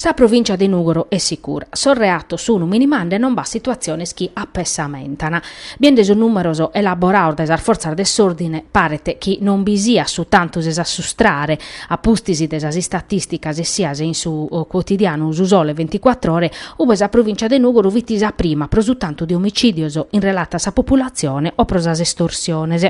Sa provìncia de Nùgoro est sicura. Sos reatos sunu minimande e non b'at situatziones chi apessamentana. Biende sos nùmeros elaborados dae sas fortzas de s'òrdine paret chi non bi siat su tantu de s'assustrare, a pustis de sas istatìsticas essias in su cuotidianu Su Sole Venticuattr'Ore, ube sa provìncia de Nùgoro fit sa prima pro su tantu de omicìdios in relata a sa populatzione o pro sas estorsiones.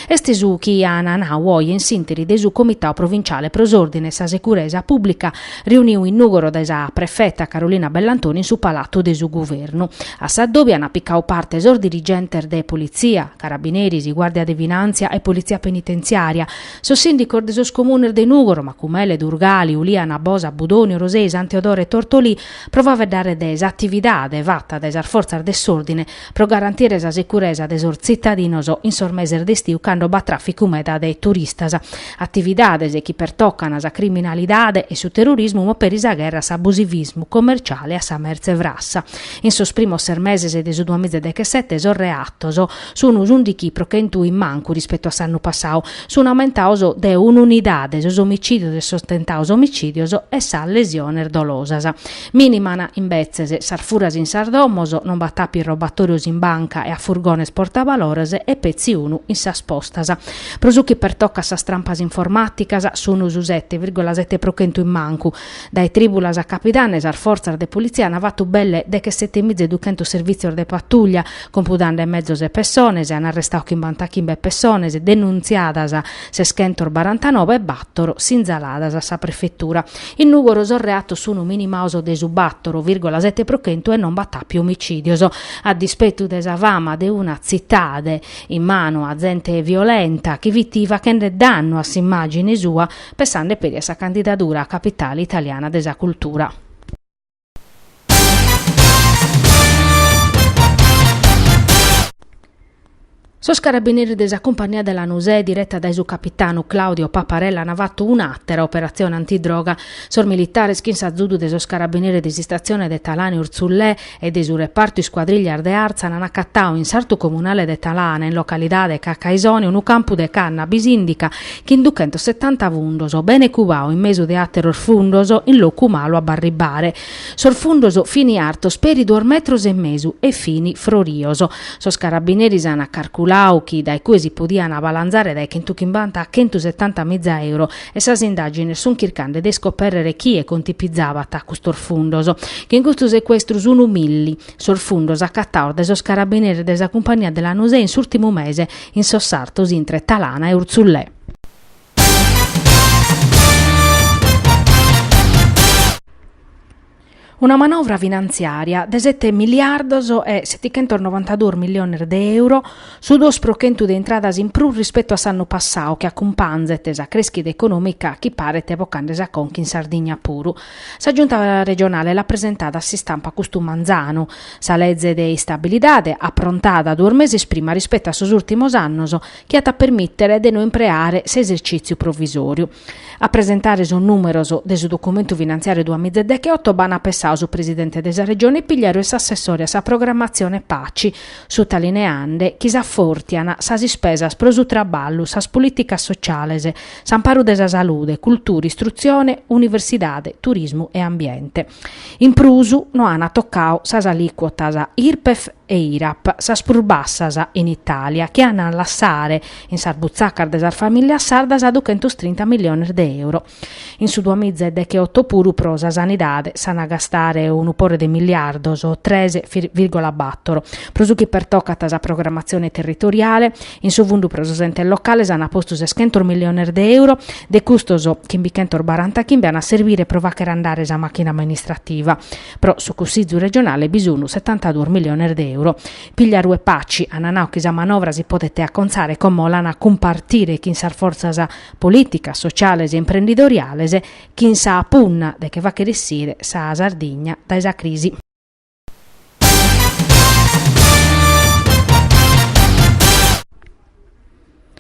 Est su chi an nau oe in s'ìnteri de su Comitadu Provinciale pro s'Òrdine e sa Securesa Pùblica reuniu in Nùgoro dae sa prefeta Carolina Bellantoni in su Palatu de su Guvernu, a sa dobi an picadu parte sos dirigentes de Politzia, Carabineris, Guàrdia de Finàntzia e Politzia Penitenziària, sos sìndicos de sos comunes de Nùgoro, Macumele, Durgali, Uliana, Bosa, Budoni, Orosei, San Teodoro e Tortolì, pro faeddare de s'atividade fata dae sas fortzas de s'òrdine pro garantire sa securesa de sos tzitadinos in sos meses de istiu cando b'at tràficu meda de turistas, atividades chi pertocan sa criminalidade e su terrorismu ma peri sa gherra a s'abusivismu commerciale a sa mertze frassa. In sos primos ses meses de su duamiza e dechesete sos reatos. Sun s'undichi pro chentu in mancu rispetu a s'annu passau. Sun aumentados de un'unidade sos omicìdios e sos tentados omicìdios e sas lesiones dolosas. Mìniman, imbetzes, sas furas in sas domos, non b'at àpiu robatòrios in banca e a furgones portabalores e petzi unu in sas postas. Pro su chi pertocat sas trampas informàticas, sun su sete virgola sete pro chentu in mancu, Dae trìbulas a capidanne sas fortzas de politzia ant fatu belle de che sete miza e duchentos servìtzios de patuglia, compudande mezos e pessones, e ant arrestadu chimbantachimbe pessones denuntziadas, seschentos barantanobe e bator sinzaladas a sa prefetura. In Nùgoro sos reatos sunt minimados de su bator vìrgola sete pro chentu e non b'at àpiu omicìdios. A dispetu de sa fama de una tzitade in manu a zente violenta chi fit faghende dannu a s'imàgine sua, Pessande peri a sa candidadura a Capitale italiana de sa cultura. Sos carabineris de sa Cumpagnia de Lanusè, direta dae su capitanu Claudio Paparella an fatu un'àtera operatzione antidroga. Sos militares chin s'azudu de sos carabineris de s'istatzione de Talana e Urzullè e de su repartu iscuadrillas de Artzana an acatau in sartu comunale de Talana, in localidade Cacaisone, unu campu de cannabis indica chin duchentos setanta fundos, bene cubau in mesu de àteros fundos, in locu malu a b'arribbare. Sos fundos fini artos peri duos metros e mesu e fini frorios. Sos carabineris an carculau chi dae cue si podian abalanzare dae chentuchimbanta a chentusetanta miza euro, e sas indàgines sunt chircande de iscopèrrere chie contipizabat custos fundos, chin custu secuestru sun milli sos fundos acataos dae sos carabineris de sa cumpagnia de Lanusè in s'ùrtimu mese in sos sartos intre Talana e Urtzulè. Una manovra finantziària de sete miliardos e setichentos novantaduos miliones de euro, su duos pro chentu de intradas in prus rispetu a s'annu passau chi acumpanzet sa crèschida econòmica chi paret bocande sa conca in Sardigna puru. Sa Giunta regionale l'at presentada a s'istampa custu manzanu sa leze de istabilidade aprontada duos meses prima rispetu a sos ùrtimos annos chi at a permìtere de no impreare s'esercìtziu provisòriu. A presentare sos nùmeros de su documentu finantziàriu duamiza e dechioto b'an pessau su presidente de sa Regione Pigliaru e s'assessore a sa programmatzione Paci, sutalineande chi s'afòrtian sas ispesas pro su traballu, sas polìticas sociales, s'amparu de sa salude, cultura, istrutzione, universidade, turismu e ambiente. In prus, no an tocau sas alìcuotas Irpef e Irap, sas prus bassas in Itàlia, chi an a lassare, In sas butzacas de sas famìlias sardas duchentos trinta milliones de euro. In su duamiza e dechioto puru pro sa sanidade s'an a gastare unu pore de miliardos, tres virgola bator. Pro su chi pertocat sa programmatzione territoriale, in su fundu pro sos entes locales an postu seschentos milliones de euro, de custos chimbichentos barantachimbe an a serbire pro fàchere andare sa màchina amministrativa. Pro su Cussizu regionale bi sun setantaduos milliones de euro. Pigliaru e Paci an nau chi sa manovra si podet acontzare como l'an a cumpartire chin sas fortzas polìticas, sociales e imprendidoriales chin sa punna de che fàchere issire sa Sardigna dae sa crisi.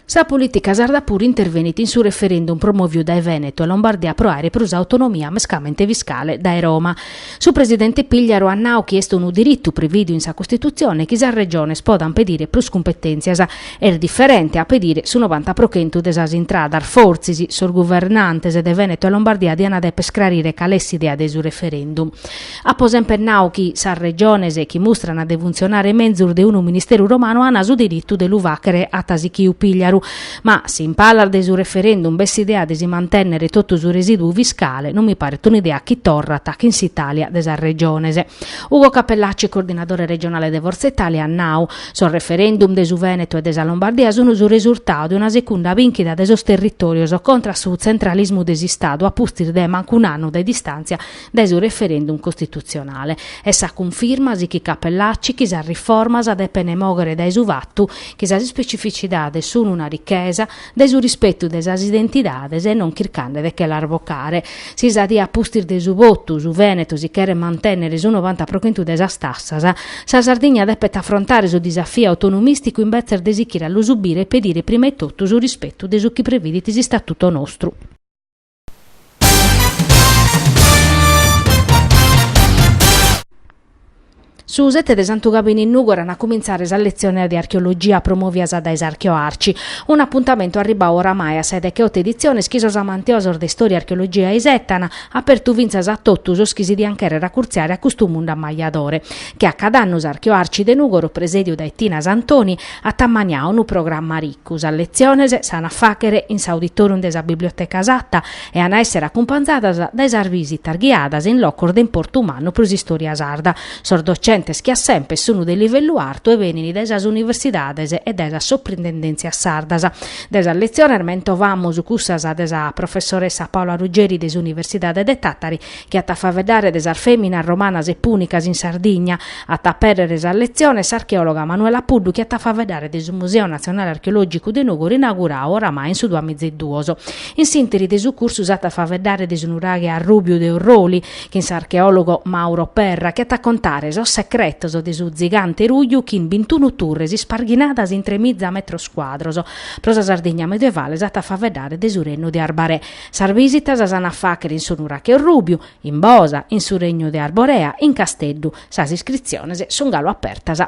Sa polìtica sarda puru intervenit in su referendum promòviu dae Vènetu e Lombardia pro àere prus autonomia mescamente fiscale dae Roma. Su presidente Pigliaru at nau chi est unu diritu prevìdiu in sa Costitutzione chi sas Regiones podant pedire prus cumpetèntzias. Est diferente a pedire su novanta pro chentu de sas intradas. Fortzis sos guvernantes de Vènetu e Lombardia diant dèpere iscrarire cale est s'idea de su referendum. Apo semper nau chi sas Regiones chi mustran de funtzionare menzus de unu ministeru romanu an su diritu de lu fàchere, at sichiu Pigliaru. Ma, si in palas de su referendum b'est s'idea de si mantènnere totu su resìduu fiscale, non mi paret un'idea chi torrat chin s'Itàlia de sas Regiones. Ugo Cappellacci, coordinadore regionale de Forza Italia, at nau, Sos referendum de su Vènetu e de sa Lombardia sunt su resurtau de una secunda bìnchida de sos territòrios contra a su tzentralismu de s'Istadu a pustis de mancu un'annu de distàntzia dae su referendum costitutzionale est sa cunfirma, sichit Cappellacci, chi sas riformas depen mòghere dae su fatu chi sas ispecificidades sun una richesa, dae su rispetu de sas identidades e non chircande de che las bocare. Si sa die a pustis de su votu su Vènetu si cheret mantènnere su novanta pro chentu de sas tassas, sa Sardigna depet afrontare su disafiu autonomìsticu imbetzes de sichire a lu subire e pedire prima 'e totu su rispetu de su chi previdit s'Istatutu nostru. Su sete de Santu Gabinu in Nùgoro an a cumintzare sas letziones de archeologia promòvias dae s'Archeoarci, un'apuntamentu arribau oramai a sa decheoto editziones chi sos amantiosos de istòria e archeologia isetan, apertu fintzas a totu sos chi si diant chèrrere acurtziare a custu mundu ammajadore. Che a cad'annu s'Archeoarci de Nùgoro presèdiu dae Tina Santoni at ammaniau unu programma Ricu. Sas letziones s'an a fàghere in s'auditorium de sa Biblioteca Satta e an a èssere acumpanzadas dae sas visitas ghiadas in locos de importu mannu pro s'istòria sarda. Sos docentes che a semper sun de livellu artu e benint dae sas universidades e dae sas soprintendèntzias sardas. De sas letziones mentovamos cussas de sa professoressa Paola Ruggeri de s'Universidade de Tàtari chi at a faeddare de sas fèminas romanas e pùnicas in Sardigna. At a apèrrere sas letziones s'archeòloga Manuela Puddu chi at a faeddare de su Museu Natzionale Archeològicu de Nùgoro inaugurau oramai in su duamizaeduos. In s'ìnteri de su cursu s'at a faeddare de su nuraghe Arrùbiu de Orroli chin s'archeòlogo Mauro Perra chi at a contare sos secretos de su tzigante ruju chin bintunu turres isparghinadas in tremiza metros cuadros. Pro sa Sardigna medievale s'at a faeddare de su rennu de Arbarè. Sas vìsitas s'an a fàghere in su Nurache Orrùbiu, in Bosa, in su Regnu de Arborea, in Casteddu. Sas iscritziones sun galu apertas.